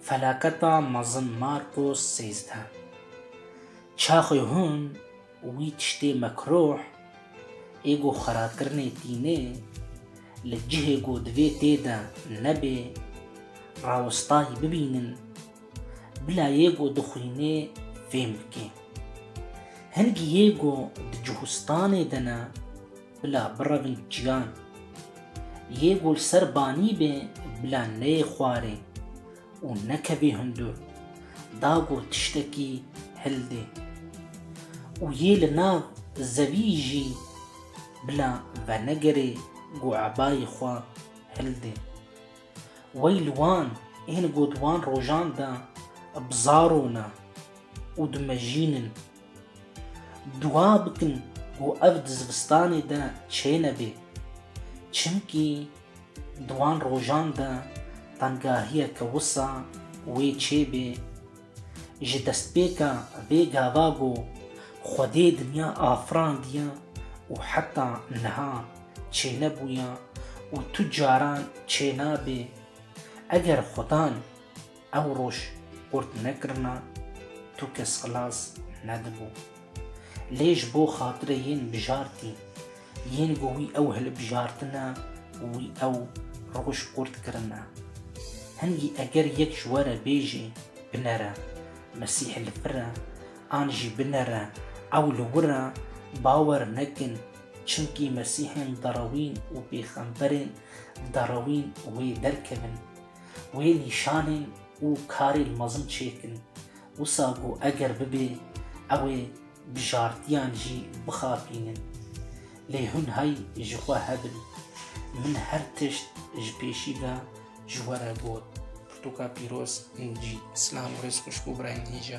Felaketa mezin Marcos sêzdeh. Çaxê hûn wî tiştê mekruh ê ku xwerakirine tîne li cihê ku divê tê de nebe rawestayî bibînin bila yê ku dixwîne fêm bike. Hin ki yê ku di cihûstanê de ne Bila birevin ciyan yê ku li ser banî bê bila neyê xwarê û nekevî hundur, da ku tiştekî hildê û yê li nav zevî jî bila venegerê ku ebayê xwe hildê. Wey li wan ên ku di wan rojan de bizarona û dimejînin. Dua bikin ku ev di zivistanê de çênebê, çimkî di wan rojan de tengahiyeke wisa wê çêbê. Ji destpêka vê gava ku Xwedê dinya afirandiye û heta niha çênebûye û tu caran çênabê, eger Xwedan, Ew roj qurt nekirina tu kes xilas nedibû. Lê ji bo xatirê yên bijartî yên ku wî ew hilbijartine û wî ew roj qurt kirine. Hingî eger yek ji we re bêjê binere Mesîhê li vir e an jî binere ew li wir e, bawer nekin çimkî Mesîhên derewîn û pêxemberên derewîn wê derkevin. Wê nîşanên û karên mezin çêkin, wisa ku eger bibe ew ê bijartiyan jî bixapînin. Lê hûn hay ji xwe hebin. Min her tişt ji pêşî ve ji we re got. Pirtûka pîroz, NG. Silam û rêz xweş bo birayên hêja.